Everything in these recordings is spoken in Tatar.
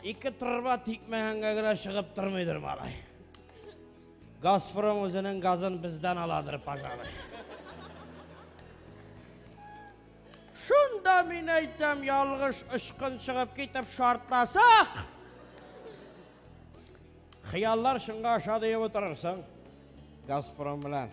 Ике торба тикмәгәнгә генә чыгып тормыйдыр малай. Газпром үзенең газын бездән аладыр, пожалуй. Шунда мин әйтәм, ялгыш очкын чыгып китеп шартласак. Хыяллар шыңга аша диеп утырырсың. Газпром белән.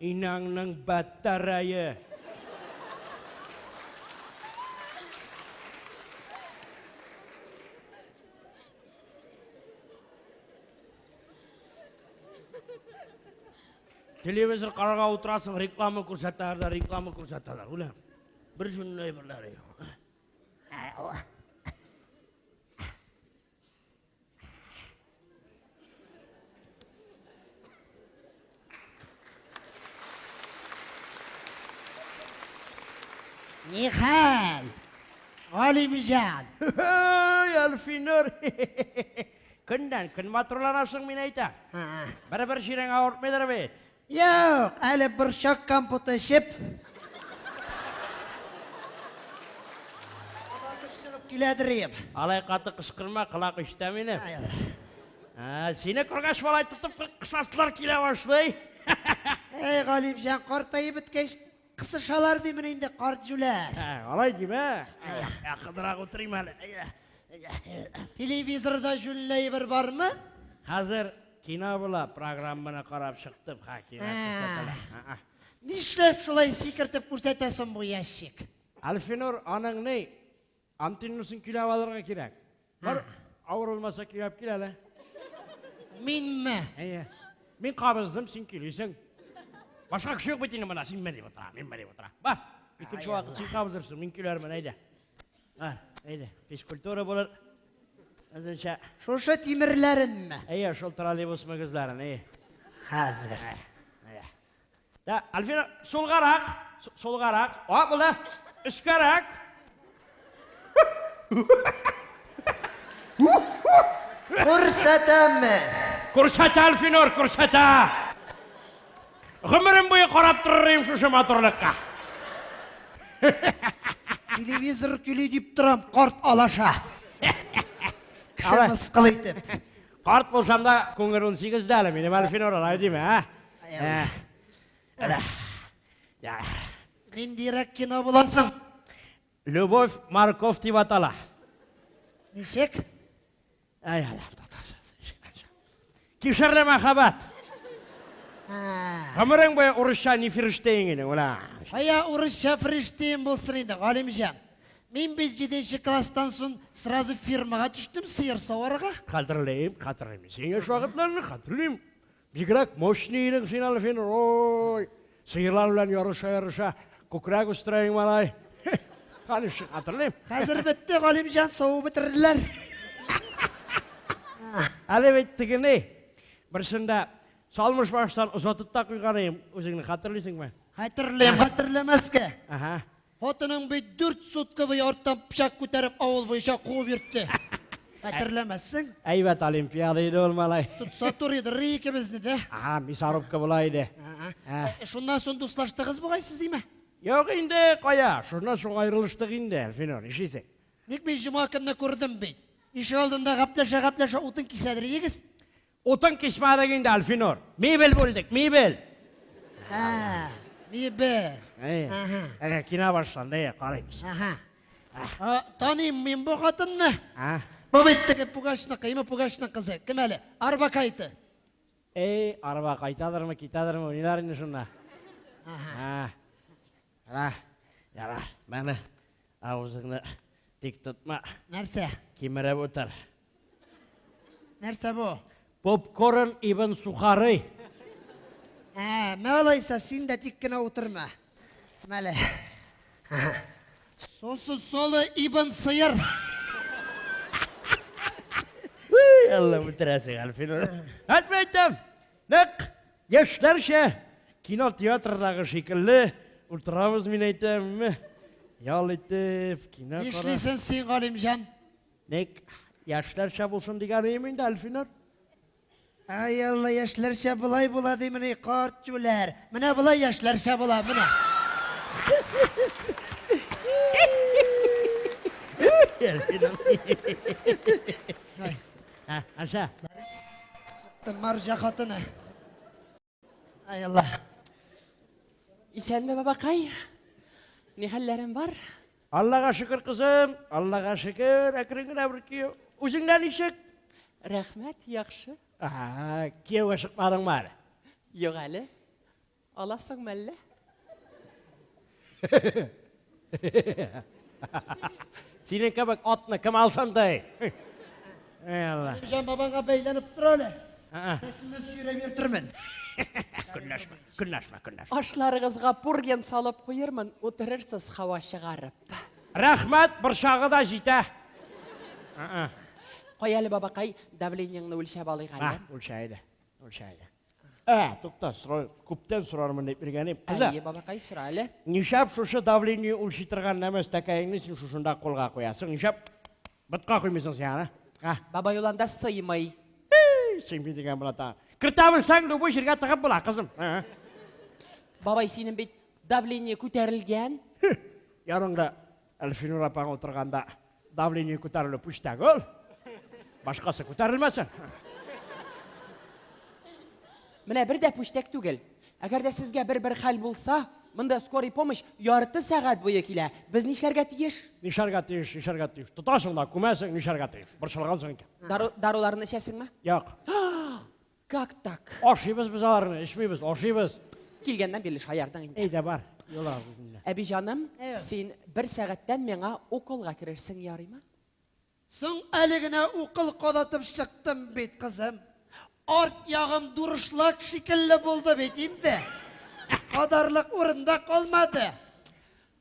Инаңның батарае. Телевизор карарга утырасың, реклама күрсәтәләр дә, реклама күрсәтәләр, үләм. Бер җүнле әйберләре юк. Нихәл! Галимҗан! Ой, Альфинур! Көннән көн матурланасың, мин әйтәм. Бер-бер чирең авыртмыйдыр бит. Юк, әле борчак компоты эчеп. Кабатып чыгып килә дирием. Алай каты кычкырма, колак ишетә мине. Ә, сине күргәч, малай тотып кысасылар килә башлый. Эй, Галимҗан, картаеп беткәч, кысышалар димени инде карт җүләр. Ә, Алай димә. Ә, Кызрак утырыйм әле. Телевизорда җүнле әйбер бармы? Хәзер Кино була, программаны карап чыктым, хакимәт күрсәтелә. Ха-ха. Нишләп шулай сикертеп күрсәтәсен бу ящик? Альфинур, аның ни? Антинусын көйләп алырга кирәк. Бар, авыр булмаса көйләп кил әле. Минме? Әйе. Мин кабыздым, син көйлисең. Башка кеше юк бит инде монда, син мени утыра, мин мени утыра. Бар, икенче вакыт син кабызырсың, мин көйләрмен, әйдә. А, әйдә, физкультура булыр. Үзенчә. Шушы тимерләренме? Әйе, шул троллейбус мөгезләрен, әйе. Хәзер. Әйе. Да, Альфина, сулгарак, сулгарак. А, булды. Өскәрәк. Күрсәтәме? Күрсәтә, Альфинор, күрсәтә. Гомерем буе карап торыр идем шушы матурлыкка. Телевизор көли дип торам, карт алаша. Кеше Алай. мыскыл итеп. Карт булсам да, күңел 18 дә әле, минем әле финор алай димә, ә? Ә. Әле. Я. Ниндирәк кино буласың? Любовь морковь дип атала. Ничек? Ай, Аллам, татарчасы. Кишерле мәхәббәт. Гомерең буе урысча ни фириштең инде, ула. Ая урысча фириштең булсын инде, Галимҗан. Мин бит 7 класстан соң сразу фирмага төштем сыер саварга. Хәтерлим, хәтерлим. Син яшь вакытларны хәтерлим. Бигрәк мощный идең син әле син, ой! Сыерлар белән ярыша-ярыша күкрәк үстерә иң малай. Хәле шик хәтерлим. Хәзер бетте, Галимҗан, саву бетерделәр. Әле бит тегене берсендә салмыш баштан озатып та куйган идем, үзеңне хәтерлисеңме? Хәтерлим, хәтерләмәскә. Ага. Хатының бит дүрт сутка буе арттан пычак күтәреп авыл буенча куып йөртте. Хәтерләмәссең? Әйбәт олимпиада иде ул, малай. Тотса туры дыр икебезне дә. Ага, мясорубка була иде. Ә. Э, Шуннан соң дуслаштыгыз бугай сез, име? Юк инде, кая, шуннан соң аерылыштык инде, Әлфинур, ишисең. Ник мин җома көнне күрдем бит. Ишек алдында гәпләшә-гәпләшә утын кисәдер идегез. Утын кичмәдек инде, Альфинур. Мебель бүлдек, мебель! Ә, мебель. Әйе. Кино башланды, әйе, карыйбыз. Әһә. Таныйм мин бу хатынны. Ә? Бу бит теге Пугачныкы, име Пугачның кызы. Кем әле? Арбакайты. Әй, арба кайтадырмы, китәдерме, уйнар инде шунда. Әһә. Ана, яра, менә авызыңны тик тотма. Нәрсә? Кимереп утыр. Нәрсә бу? Попкорн ибн сухарый. Ә, мә алайса, син дә тик кенә утырма. Мәле. Сосу солы ибн сыер. Әллә үтерәсең, Әлфин. Әйтмә әйтәм. Нәк яшьләрчә кинотеатрдагы шикелле утырабыз, мин әйтәм. Ял итеп, кино карап. Нишлисен син, Галимҗан? Ник яшьләрчә булсын дигән өем инде, Әлфинур? Ай Алла, яшьләрчә болай була димени, карт җүләр. Менә болай яшьләрчә була, менә. Аша. Маржа хатыны. Ай Алла. Исәнме бабакай? Ни хәлләрен бар? Аллага шөкер, кызым. Аллага шөкер, әкрен генә бер кию. Үзеңдә ничек? Рәхмәт, яхшы. Ага, кияүгә чыкмадыңмы әле? Юк әле. Аласың мәллә? Синең кебек атны кем алсын ди? Эй Алла. Җан бабаңга бәйләнеп тор әле. Сине сөйрәп йөртермен. Көнләшмә, көнләшмә, көнләшмә. Ашларыгызга пурген салып куермын, утырырсыз һава чыгарып. Рәхмәт, борчагы да җитә. Кая әле, бабакай, давлениеңне үлчәп алыйк әле. Ах, үлчә әле, үлчә әле. Ә, тукта, сорау, күптән сорармын дип иргәним. Кызы, Әйе, бабакай, сора әле. нишәп шушы давление үлчи торган нәмә стәкәеңне син шушында кулга куясың? Нишәп ботка куймыйсың син аны? А, Бабай ул анда сыймый. эй, сыймый дигән була тагын. Кертә белсәң, любой җиргә тыгып була, кызым. Ә, Бабай, синең бит давление күтәрелгән. Ярыңга Әлфинур апаң утырганда давление күтәрелү пүчтәк ул. Башкасы күтәрелмәсен. Менә бер дә пүчтәк түгел. Әгәр дә сезгә бер-бер хәл булса, монда скорый помощь ярты сәгать буе килә. Без нишләргә тиеш? Нишләргә тиеш, нишләргә тиеш. Тотасың да күмәсең, нишләргә тиеш. Борчылгансың икән. Дару, даруларны эчәсеңме? Юк. Как так? Ашыйбыз без аларны, эчмибез, ашыйбыз. Килгәннән бирле шаярдың инде. Әйдә бар, юла үзенә. Әби җаным, син бер сәгатьтән миңа уколга керерсең, ярыймы? Соң әле генә укол кадатып чыктым бит, кызым. Арт ягым дурышлак шикелле булды бит инде. Кадарлык урында калмады.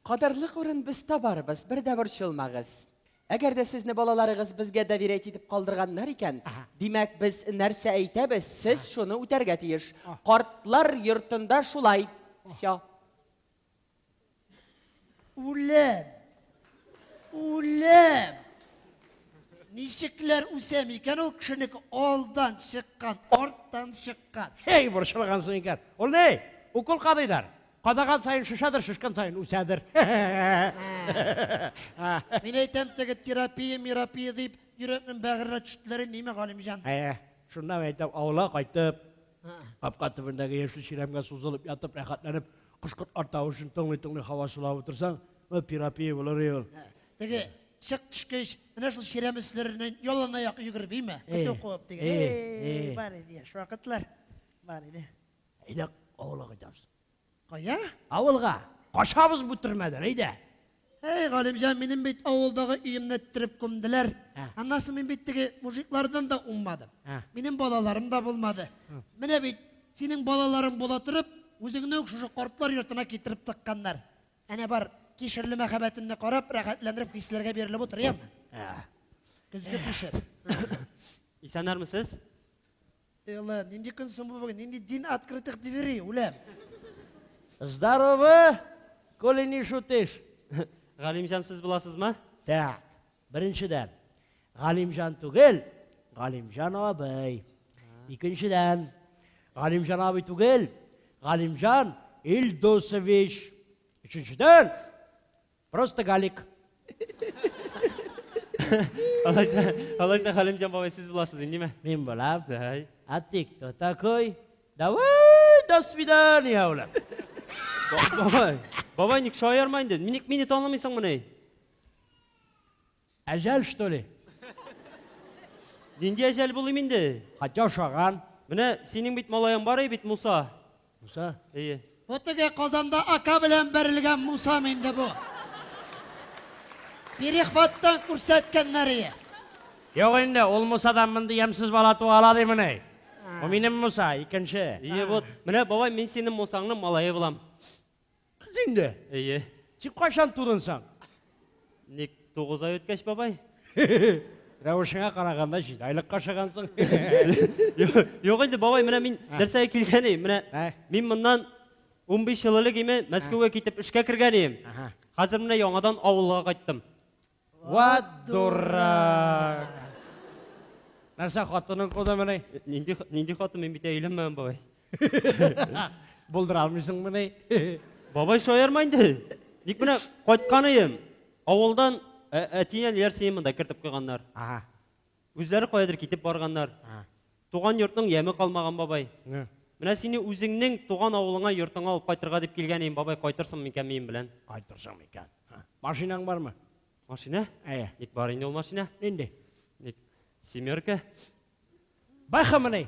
Кадарлык урын без табарбыз, бер дә борчылмагыз. Әгәр дә сезне балаларыгыз безгә доверять итеп калдырганнар икән, димәк, без нәрсә әйтәбез, сез шуны үтәргә тиеш. Картлар йортында шулай. Всё. Үлем! Үлем! Ничекләр үсә микән ул кешенеке алдан чыккан, арттан чыккан? Һей, борчылгансың икән. Ул ни? Укол кадыйлар. Кадаган саен шешәдер, шешкән саен үсәдер. Мин әйтәм, теге терапия, мирапия дип, йөрәкнең бәгыренә төштеләр инде, име, Галимҗан? Әйе, шуннан әйтәм, авылга кайтып, капка төбендәге яшел чирәмгә сузылып ятып, рәхәтләнеп, кош-кортлар тавышын тыңлый-тыңлый хава сулап утырсаң, ул терапия булыр и ул. Теге чык төшкәч, менә шул чирәм өсләреннән яланаяк йөгереп, име, көтү куып дигән. Әй, бар иде яшь вакытлар, бар иде. Әйдә, авылга кайтабыз. Кая? Авылга. Качабыз бу төрмәдән, әйдә. Әй, Галимҗан, минем бит авылдагы өемне эттереп күмделәр. Ә. Аннан соң мин бит теге мужиклардан да уңмадым. Ә. Минем балаларым да булмады. Менә бит синең балаларың була торып, үзеңне үк шушы картлар йортына китереп тыкканнар. Әнә бар, кишерле мәхәббәтемне карап, рәхәтләнереп хисләргә бирелеп утыр, яме. Ә. Көзге кишер. Исәннәрмесез? Элла, нинди көн соң бу бүген? Нинди день открытых дверей, үләм? Здоровы, коли не шутишь. Галимҗан, сез буласызмы? Так, беренчедән, Галимҗан түгел, Галимҗан абый. Икенчедән, Галимҗан абый түгел, Галимҗан Илдусович. Өченчедән, Просто Галик. Алайса, алайса Хәлимҗан бабай сез буласыз инде, ниме? Мин булам. Дай. А ты кто такой? Давай, до свидания, улам. Бабай, бабай ник шаярма инде? Ник мине танымыйсың мыни? Әҗәл что ли? Нинди әҗәл булыйм инде? Хатя ашаган. Менә синең бит малаең бар ие бит, Муса. Муса? Ие. Бу теге Казанда ака белән бәрелгән Мусам инде бу. Перехваттан күрсәткәннәр ие. Юк инде, ул Мусадан мондый ямьсез бала туа ала димени? Бу минем Муса, икенче. Ие, вот. Менә бабай, мин синең Мусаңның малае булам. Кыз инде. Әйе. Тик кайчан тудын соң? Ник тугыз ай үткәч, бабай? Рәвешеңә караганда җиде айлык кашагансың. Юк инде, бабай, менә мин нәрсәгә килгән идем. Менә ә? мин моннан 15 ел элек име Мәскәүгә китеп эшкә кергән идем. Хәзер менә яңадан авылга кайттым. Ват дурак! Нәрсә, хатының кудымыни? Нинди, нинди хатын, мин бит әйләнмәгән, бабай. Булдыра алмыйсыңмыни? Бабай шаярма инде. Ник менә кайтканыем. Авылдан әтинен ярсыен монда кертеп куйганнар. Ага. Үзләре каядыр китеп барганнар. Туган йортның яме калмаган бабай. Менә сине үзеңнең туган авылыңа, йортыңа алып кайтырга дип килгән идем, бабай, кайтырсың микән минем белән? Кайтырсың микән? Машинаң бармы? Машина? Әйе. Ник бар инде ул машина? Нинди? Ник семерка? Бахамыни?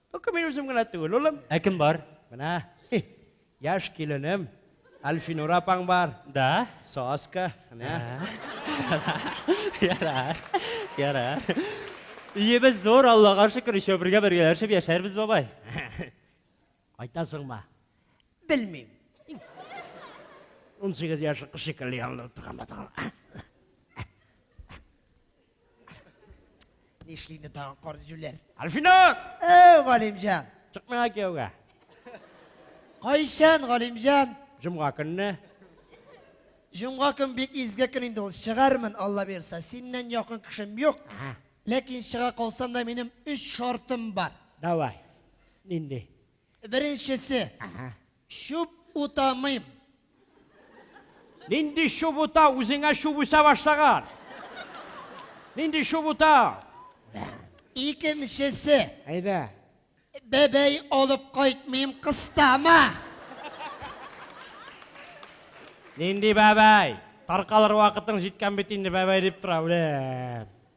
Только мин үзем генә түгел, улым. Ә кем бар? Менә, хи, яшь киленем, Әлфинур апаң бар. Да? Соска, менә. Ярар, ярар. Өебез зур, Аллага шөкер, өчәү бергә бергәләшеп яшәрбез, бабай. Кайтасыңмы? Белмим. Унсигез яшьлек кыз шикелле ялынып торган бит ул. Нишлине тагын кар җүләр? Альфинур! Әй, Галимҗан! Чыкмыйга кияүгә. Кайчан, Галимҗан? Җомга көнне. Җомга көн бик изге көн инде ул. Чыгармын, Алла бирса. Синнән якын кешем юк. Ага. Ләкин чыга калсам да минем өч шартым бар. Давай. Нинди? Беренчесе. Әһә. Чүп утамыйм. Нинди чүп ута, үзеңә чүп үсә башлаган. Нинди чүп ута? Икенчесе. Әйдә. Бәбәй алып кайтмыйм, кыстама. Нинди бәбәй? Таркалыр вакытың җиткән бит инде, бәбәй дип тора, үлем.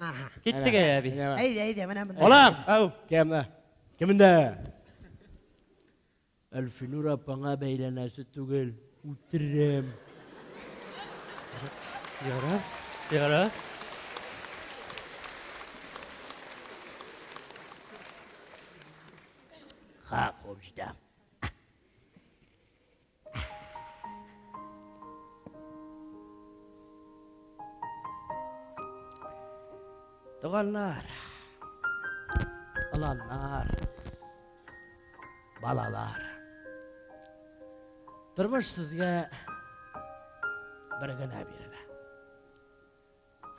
Aha. Киттек әй әби. Әйдә, әйдә, менә монда. Балам, ау. Кемне? Кемне? Әлфинур апаңа бәйләнәсе түгел, үтерәм. Яра, яра. Ха, кобҗда. Туганнар, аланнар, балалар. Тормыш сезгә бер генә бирелә.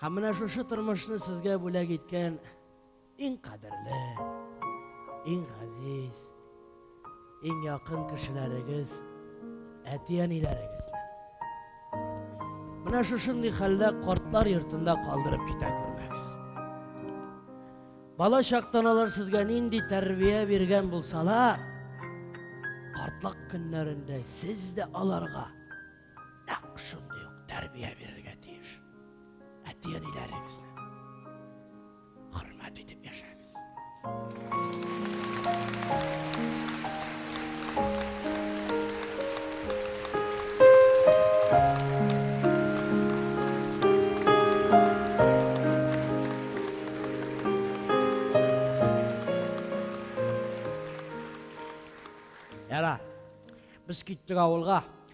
Һәм менә шушы тормышны сезгә бүләк иткән иң кадерле, иң газиз, иң якын кешеләрегез, әти-әниләрегезне. Менә шушындый хәлдә картлар йортында калдырып китә күрмәгез. Бала чактан алар сезгә нинди тәрбия биргән булсалар, картлык көннәрендә сез дә аларга нәкъ шундый ук тәрбия бирергә тиеш. Әти-әниләрегезне хөрмәт итеп яшәгез. Яра, без киттек авылга.